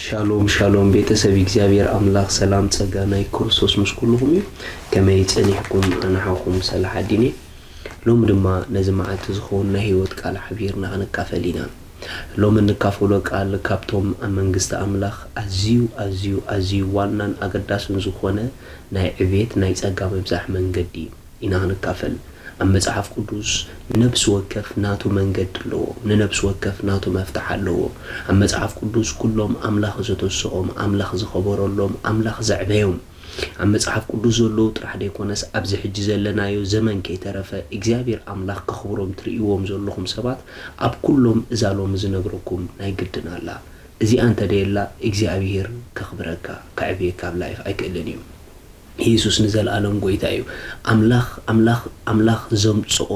ሻሎም ሻሎም ቤተሰብ እግዚኣብሔር ኣምላኽ ሰላም ጸጋ ናይ ክርስቶስ ምስ ኩልኹም እዩ ከመይ ጸኒሕኩም ኣንሓኹም ሰላሕ ኣዲኒ ሎሚ ድማ ነዚ መዓልቲ ዝኸውን ናይ ህይወት ቃል ሓቢርና ክንካፈል ኢና ሎሚ እንካፈሎ ቃል ካብቶም ኣብ መንግስቲ ኣምላኽ ኣዝዩ ኣዝዩ ኣዝዩ ዋናን ኣገዳስን ዝኾነ ናይ ዕብየት ናይ ጸጋ ምብዛሕ መንገዲ ኢና ክንካፈል። ኣብ መጽሓፍ ቅዱስ ንነብሲ ወከፍ ናቱ መንገዲ ኣለዎ፣ ንነብሲ ወከፍ ናቱ መፍትሕ ኣለዎ። ኣብ መጽሓፍ ቅዱስ ኩሎም ኣምላኽ ዘተስኦም፣ ኣምላኽ ዝኸበረሎም፣ ኣምላኽ ዘዕበዮም፣ ኣብ መጽሓፍ ቅዱስ ዘለዉ ጥራሕ ደይኮነስ ኣብዚ ሕጂ ዘለናዮ ዘመን ከይተረፈ እግዚኣብሄር ኣምላኽ ከኽብሮም ትርእይዎም ዘለኹም ሰባት ኣብ ኩሎም እዛ ሎሚ ዝነግረኩም ናይ ግድን ኣላ እዚኣ እንተደየላ እግዚኣብሄር ከኽብረካ ከዕብየካ ኣብ ላይፍ ኣይክእልን እዩ ኢየሱስ ንዘልኣለም ጎይታ እዩ ኣምላኽ ኣምላኽ ኣምላኽ ዘምጽኦ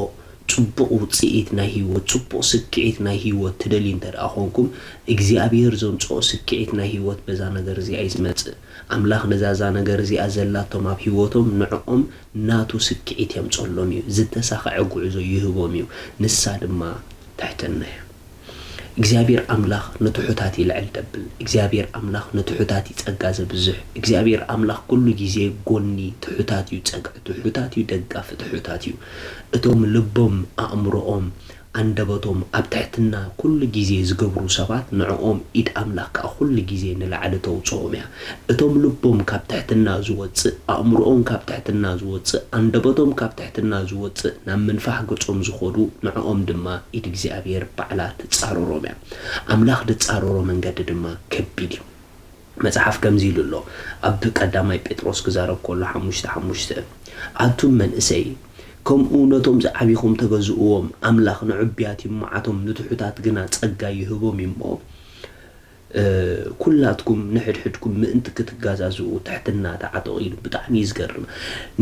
ጽቡቕ ውጽኢት ናይ ህይወት ጽቡቕ ስክዒት ናይ ህይወት ትደልዩ እንተደኣ ኮንኩም እግዚኣብሄር ዘምጽኦ ስክዒት ናይ ህይወት በዛ ነገር እዚኣ እዩ ዝመጽእ ኣምላኽ ነዛ እዛ ነገር እዚኣ ዘላቶም ኣብ ህይወቶም ንዕኦም ናቱ ስክዒት የምጸሎም እዩ፣ ዝተሳኸዐ ጉዕዞ ይህቦም እዩ፣ ንሳ ድማ ትሕትና እያ። እግዚኣብሔር ኣምላኽ ንትሑታት ይልዕል ደብል፣ እግዚኣብሔር ኣምላኽ ንትሑታት እዩ ጸጋ ዘብዝሕ፣ እግዚኣብሔር ኣምላኽ ኩሉ ግዜ ጎኒ ትሑታት እዩ ጸግዒ ትሑታት እዩ ደጋፊ ትሑታት እዩ፣ እቶም ልቦም ኣእምሮኦም ኣንደበቶም ኣብ ትሕትና ኩሉ ግዜ ዝገብሩ ሰባት ንዕኦም ኢድ ኣምላኽ ከኣ ኩሉ ግዜ ንላዕሊ ተውጽኦም እያ። እቶም ልቦም ካብ ትሕትና ዝወጽእ፣ ኣእምሮኦም ካብ ትሕትና ዝወጽእ፣ ኣንደበቶም ካብ ትሕትና ዝወጽእ ናብ ምንፋሕ ገጾም ዝኸዱ ንዕኦም ድማ ኢድ እግዚኣብሄር ባዕላ ትጻረሮም እያ። ኣምላኽ ድጻረሮ መንገዲ ድማ ከቢድ እዩ። መጽሓፍ ከምዚ ኢሉ ኣሎ ኣብ ቀዳማይ ጴጥሮስ ክዛረብ ከሎ ሓሙሽተ ሓሙሽተ ኣቱም መንእሰይ ከምኡ ነቶም ዝዓቢኹም ተገዝእዎም ኣምላኽ ንዕቡያት ይመዓቶም ንትሑታት ግና ጸጋ ይህቦም እዩ እሞ ኩላትኩም ንሕድሕድኩም ምእንቲ ክትጋዛዝኡ ትሕትና ተዓጠቑ ኢሉ ብጣዕሚ እዩ ዝገርም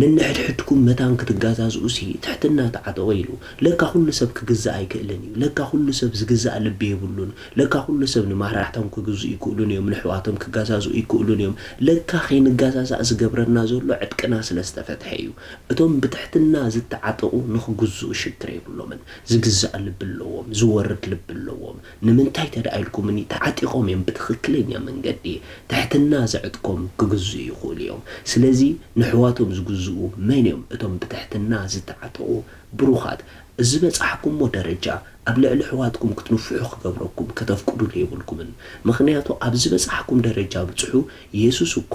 ንንሕድሕድኩም መታን ክትጋዛዝኡሲ ትሕትና ተዓጠቑ ኢሉ ለካ ኩሉ ሰብ ክግዛእ ኣይክእልን እዩ ለካ ኩሉ ሰብ ዝግዛእ ልቢ የብሉን ለካ ኩሉ ሰብ ንማራሕቶም ክግዝኡ ይክእሉን እዮም ነሕዋቶም ክጋዛዝኡ ይክእሉን እዮም ለካ ከይንጋዛዛእ ዝገብረና ዘሎ ዕጥቅና ስለ ዝተፈትሐ እዩ እቶም ብትሕትና ዝታዓጠቁ ንክግዝኡ ሽግር የብሎምን ዝግዛእ ልቢ ኣለዎም ዝወርድ ልቢ ኣለዎም ንምንታይ ተዳኣ ኢልኩምኒ ታዓጢቆም እዮም ብትክክለኛ መንገዲ ትሕትና ዘዕጥቆም ክግዝኡ ይክእሉ እዮም ስለዚ ነሕዋቶም ዝግዝኡ መን እዮም እቶም ብትሕትና ዝታዓጠቁ ብሩኻት፣ ዝበጻሕኩሞ ደረጃ ኣብ ልዕሊ ኣሕዋትኩም ክትንፍሑ ክገብረኩም ከተፍቅዱሉ የብልኩምን። ምኽንያቱ ኣብ ዝበጻሕኩም ደረጃ ብጽሑ፣ የሱስ እኳ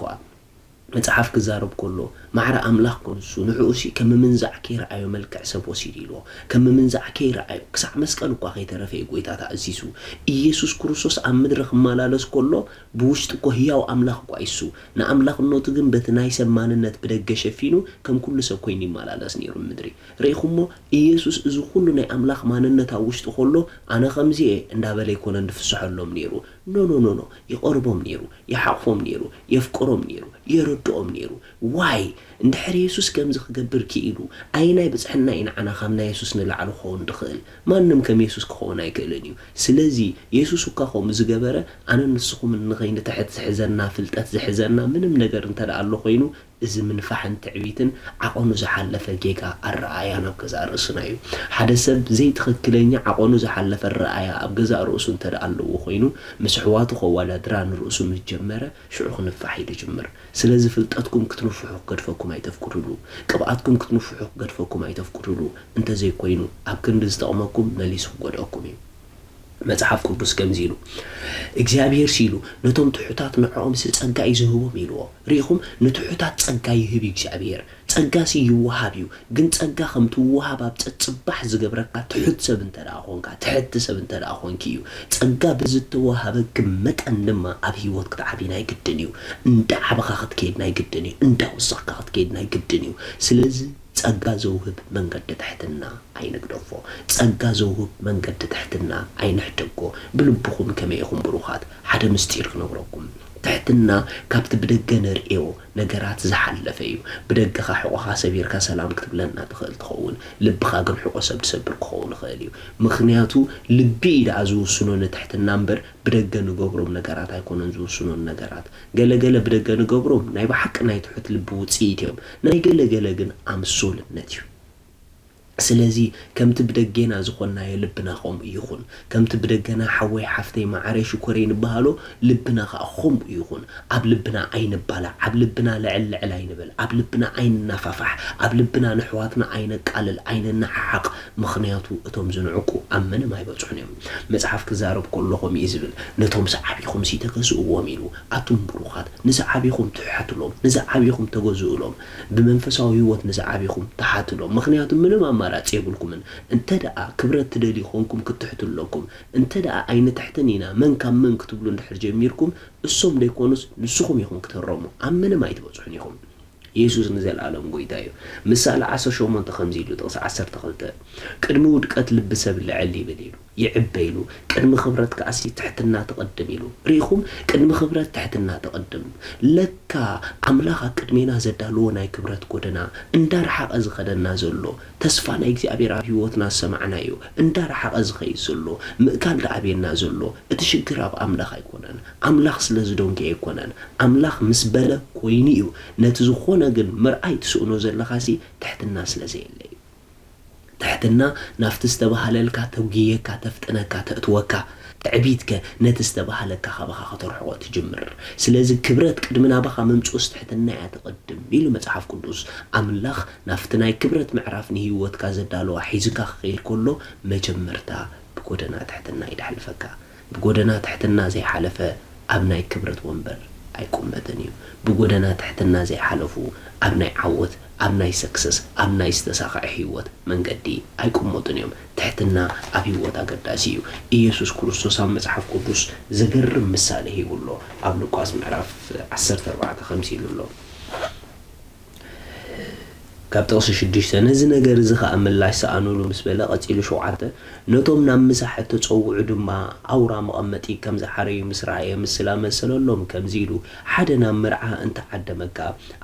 መጽሓፍ ክዛረብ ከሎ ማዕረ ኣምላኽ ክንሱ፣ ንዕኡሲ ከም ምምንዛዕ ከይረኣዮ መልክዕ ሰብ ወሲዱ ኢልዎ። ከም ምምንዛዕ ከይረኣዮ፣ ክሳዕ መስቀል እኳ ከይተረፈ እዩ ጎይታ ተኣዚዙ። ኢየሱስ ክርስቶስ ኣብ ምድሪ ክመላለስ ከሎ ብውሽጢ እኮ ህያው ኣምላኽ እኳ ኢሱ፣ ንኣምላኽነቱ ግን በቲ ናይ ሰብ ማንነት ብደገ ሸፊኑ ከም ኩሉ ሰብ ኮይኑ ይመላለስ ኔሩ ንምድሪ። ርኢኹሞ ኢየሱስ እዚ ኩሉ ናይ ኣምላኽ ማንነት ኣብ ውሽጡ ከሎ ኣነ ከምዚ እየ እንዳበለ ኣይኮነን ድፍስሐሎም ኔሩ። ኖኖኖኖ ይቐርቦም ኔሩ፣ ይሓቑፎም ኔሩ፣ የፍቅሮም ኔሩ፣ የረድኦም ኔሩ። ዋይ እንድሕር የሱስ ከምዚ ክገብር ኪኢሉ ኣየናይ ብጽሕና እዩ ንዓና ካብ ናይ የሱስ ንላዕሊ ክኸውን ድኽእል ማንም ከም የሱስ ክኸውን ኣይክእልን እዩ ስለዚ የሱስ እኳ ከምኡ ዝገበረ ኣነን ንስኹምን ንኸይንትሕት ዝሕዘና ፍልጠት ዝሕዘና ምንም ነገር እንተድኣ ኣሎ ኮይኑ እዚ ምንፋሕን ትዕቢትን ዓቐኑ ዝሓለፈ ጌጋ ኣረኣእያን ኣብ ገዛእ ርእስና እዩ ሓደ ሰብ ዘይትኽክለኛ ዓቐኑ ዝሓለፈ ኣረኣእያ ኣብ ገዛእ ርእሱ እንተድኣ ኣለዎ ኮይኑ ምስ ኣሕዋቱ ከዋዳድራ ንርእሱ ምስ ጀመረ ሽዑ ክንፋሕ እዩ ዝጅምር። ስለዚ ፍልጠትኩም ክትንፍሑ ክገድፈኩም ኣይተፍቅዱሉ። ቅብኣትኩም ክትንፍሑ ክገድፈኩም ኣይተፍቅዱሉ። እንተዘይኮይኑ ኣብ ክንዲ ዝጠቕመኩም መሊሱ ክጎድኣኩም እዩ። መጽሓፍ ቅዱስ ከምዚ ኢሉ እግዚኣብሄርሲ ኢሉ ነቶም ትሑታት ንዕኦምሲ ጸጋ እዩ ዝህቦም ኢልዎ። ርኢኹም ንትሑታት ጸጋ ይህብ እዩ እግዚኣብሄር። ጸጋሲ ይወሃብ እዩ ግን ጸጋ ከም ትወሃብ ኣብ ጸጽባሕ ዝገብረካ ትሑት ሰብ እንተደኣ ኮንካ ትሕቲ ሰብ እንተደኣ ኮንኪ እዩ ጸጋ ብዝተወሃበኪ መጠን ድማ ኣብ ሂወት ክትዓብዪ ናይ ግድን እዩ እንዳዓበኻ ክትከይድ ናይ ግድን እዩ እንዳወሰኽካ ክትከይድ ናይ ግድን እዩ ስለዚ ጸጋ ዘውህብ መንገዲ ትሕትና ኣይንግደፎ ጸጋ ዘውህብ መንገዲ ትሕትና ኣይንሕደጎ ብልብኹም ከመይ ኢኹም ብሩኻት ሓደ ምስጢር ክነግረኩም ትሕትና ካብቲ ብደገ ነርእዮ ነገራት ዝሓለፈ እዩ ብደገኻ ሕቆኻ ሰቢርካ ሰላም ክትብለና ትኽእል ትኸውን ልብኻ ግን ሕቆ ሰብ ድሰብር ክኸውን ይኽእል እዩ ምኽንያቱ ልቢ እዩ ደኣ ዝውስኖ ንትሕትና እምበር ብደገ ንገብሮም ነገራት ኣይኮነን ዝውስኖ ንነገራት ገለ ገለ ብደገ ንገብሮም ናይ ብሓቂ ናይ ትሑት ልቢ ውጽኢት እዮም ናይ ገለ ገለ ግን ኣምሶልነት እዩ ስለዚ ከምቲ ብደጌና ዝኾንናዮ ልብና ከምኡ ይኹን። ከምቲ ብደገና ሓወይ ሓፍተይ መዓረይ ሽኮረይ ንበሃሎ ልብና ከኣ ከምኡ ይኹን። ኣብ ልብና ኣይንባላዕ፣ ኣብ ልብና ልዕል ልዕል ኣይንበል፣ ኣብ ልብና ኣይንናፋፋሕ፣ ኣብ ልብና ነሕዋትና ኣይነቃልል፣ ኣይንነዓዓቕ፣ ምኽንያቱ እቶም ዝንዕቁ ኣብ ምንም ኣይበጽሑን እዮም። መጽሓፍ ክዛረብ ከሎ ከምኡ እዩ ዝብል ነቶም ዝዓቢኹምሲ ተገዝእዎም ኢሉ። ኣቱም ብሩኻት ንዝዓቢኹም ትሕሓቱሎም፣ ንዝዓቢኹም ተገዝኡሎም። ብመንፈሳዊ ህይወት ንዝዓቢኹም ትሓቱሎም ምኽንያቱ ምንም ኣማራጺ የብልኩምን እንተደኣ ክብረት ትደልዩ ኮንኩም ክትሕቱ ኣለኩም እንተደኣ ኣይንትሕትን ኢና መን ካብ መን ክትብሉ እንድሕር ጀሚርኩም እሶም ደይኮኑስ ንስኹም ኢኹም ክትህረሙ ኣብ ምንም ኣይትበጽሑን ኢኹም የሱስ ንዘልኣለም ጎይታ እዩ ምሳሌ ዓሰርተ ሸሞንተ ከምዚ ኢሉ ጥቕሲ ዓሰርተ ክልተ ቅድሚ ውድቀት ልቢ ሰብ ልዕል ይብል ኢሉ። ይዕበ ኢሉ ቅድሚ ክብረት ከኣሲ ትሕትና ትቅድም ኢሉ ርኢኹም ቅድሚ ክብረት ትሕትና ትቅድም ለካ ኣምላኽ ኣብ ቅድሜና ዘዳልዎ ናይ ክብረት ጎደና እንዳረሓቀ ዝኸደና ዘሎ ተስፋ ናይ እግዚኣብሔር ኣብ ሂወትና ዝሰማዕናዮ እንዳረሓቀ ዝኸይድ ዘሎ ምእካል ደኣበየና ዘሎ እቲ ሽግር ኣብ ኣምላኽ ኣይኮነን ኣምላኽ ስለ ዝዶንገየ ኣይኮነን ኣምላኽ ምስ በለ ኮይኑ እዩ ነቲ ዝኾነ ግን ምርኣይ ትስእኖ ዘለኻሲ ትሕትና ስለ ዘየለ እዩ ትሕትና ናብቲ ዝተባህለልካ ተጒየካ ተፍጥነካ ተእትወካ፣ ትዕቢትከ ነቲ ዝተባህለካ ካባኻ ከተርሕቖ ትጅምር። ስለዚ ክብረት ቅድሚ ናባኻ ምምጽኡስ ትሕትና እያ ትቕድም ኢሉ መጽሓፍ ቅዱስ። ኣምላኽ ናብቲ ናይ ክብረት ምዕራፍ ንህይወትካ ዘዳለዋ ሒዙካ ክኸይድ ከሎ መጀመርታ ብጎደና ትሕትና እዩ ደሕልፈካ። ብጎደና ትሕትና ዘይሓለፈ ኣብ ናይ ክብረት ወንበር ኣይቁመትን እዩ ብጎደና ትሕትና ዘይሓለፉ ኣብ ናይ ዓወት ኣብ ናይ ሰክሰስ ኣብ ናይ ዝተሳኸዐ ሂወት መንገዲ ኣይቁመቱን እዮም ትሕትና ኣብ ሂወት ኣገዳሲ እዩ ኢየሱስ ክርስቶስ ኣብ መጽሓፍ ቅዱስ ዘገርም ምሳሌ ሂቡ ኣሎ ኣብ ሉቃስ ምዕራፍ ዓሰርተ ኣርባዕተ ከምዚ ኢሉ ኣሎ። ካብ ጥቕሲ ሽዱሽተ፣ ነዚ ነገር እዚ ኸኣ ምላሽ ስኣኑሉ ምስ በለ፣ ቀጺሉ ሸውዓተ፣ ነቶም ናብ ምሳሕ እተጸውዑ ድማ ኣውራ መቐመጢ ከም ዝሓረዩ ምስ ረኣየ ምስላ መሰለሎም፣ ከምዚ ኢሉ፣ ሓደ ናብ መርዓ እንተ ዓደመካ፣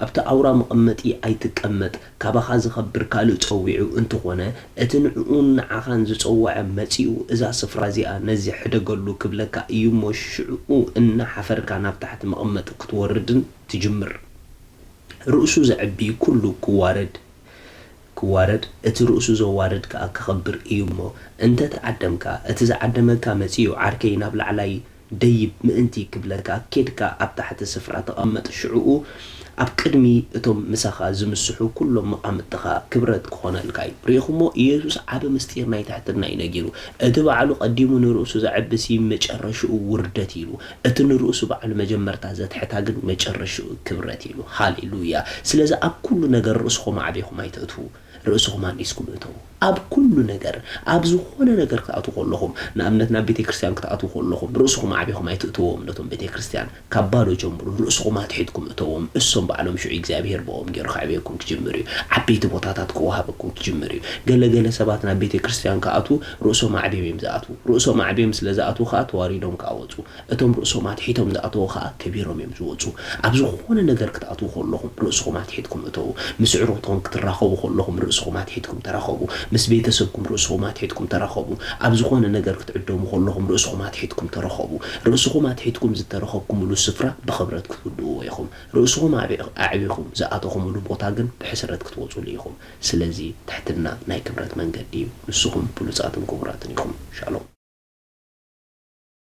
ኣብቲ ኣውራ መቐመጢ ኣይትቀመጥ፣ ካባኻ ዝኸብር ካልእ ጸዊዑ እንተ ኾነ፣ እቲ ንዕኡን ንዓኻን ዝጸወዐ መጺኡ እዛ ስፍራ እዚኣ ነዚ ሕደገሉ ክብለካ እዩ እሞ፣ ሽዕኡ እና ሓፈርካ ናብ ታሕቲ መቐመጢ ክትወርድን ትጅምር። ርእሱ ዘዕቢ ኩሉ ክዋረድ ክዋረድ እቲ ርእሱ ዘዋርድ ከኣ ክኸብር እዩ እሞ እንተ ተዓደምካ እቲ ዝዓደመካ መጺኡ ዓርከይ ናብ ላዕላይ ደይብ ምእንቲ ክብለካ ኬድካ ኣብ ታሕቲ ስፍራ ተቐመጥ ሽዑኡ ኣብ ቅድሚ እቶም ምሳኻ ዝምስሑ ኩሎም መቓምጥትኻ ክብረት ክኾነልካ እዩ ርኢኹሞ ኢየሱስ ዓቢ ምስጢር ናይ ትሕትና እዩ ነጊሩ እቲ ባዕሉ ቀዲሙ ንርእሱ ዘዕቢሲ መጨረሽኡ ውርደት ኢሉ እቲ ንርእሱ ባዕሉ መጀመርታ ዘትሕታ ግን መጨረሽኡ ክብረት ኢሉ። ሃሌ ሉያ። ስለዚ ኣብ ኩሉ ነገር ርእስኹም ኣዕቢኹም ኣይተእትዉ። ርእስኹም ኣንኢስኩሉ እተዉ። ኣብ ኩሉ ነገር፣ ኣብ ዝኾነ ነገር ክትኣትዉ ከለኹም፣ ንኣብነት ናብ ቤተክርስትያን ክትኣትዉ ከለኹም፣ ርእስኹም ኣዕቢኹም ኣይትእትዎም ነቶም ቤተክርስትያን። ካብ ባዶ ጀምሩ፣ ርእስኹም ኣትሒትኩም እተዎም። እሶም ባዕሎም ሽዑ እግዚኣብሄር ብኦም ገይሩ ከዕብየኩም ክጅምር እዩ። ዓበይቲ ቦታታት ክወሃበኩም ክጅምር እዩ። ገለ ገለ ሰባት ናብ ቤተክርስትያን ክኣትዉ፣ ርእሶም ኣዕብዮም እዮም ዝኣትዉ። ርእሶም ኣዕብዮም ስለ ዝኣትዉ ከኣ ተዋሪዶም ከኣ ወጹ። እቶም ርእሶም ኣትሒቶም ዝኣተዉ ከኣ ከቢሮም እዮም ዝወጹ። ኣብ ዝኾነ ነገር ክትኣትዉ ከለኹም ርእስኹም ኣትሒትኩም እተዉ። ምስ ኣዕሩኽትኹም ክትራኸቡ ከለኹም ርእስኹም ኣትሒትኩም ተራኸቡ። ምስ ቤተሰብኩም ርእስኹም ኣትሒትኩም ተራኸቡ። ኣብ ዝኾነ ነገር ክትዕደሙ ከለኹም ርእስኹም ኣትሒትኩም ተረኸቡ። ርእስኹም ኣትሒትኩም ዝተረኸብኩምሉ ስፍራ ብኽብረት ክትውድእዎ ኢኹም። ርእስኹም ኣዕቢኹም ዝኣተኹምሉ ቦታ ግን ብሕስረት ክትወጹሉ ኢኹም። ስለዚ ትሕትና ናይ ክብረት መንገዲ እዩ። ንስኹም ብሉጻትን ክቡራትን ኢኹም። ሻሎም።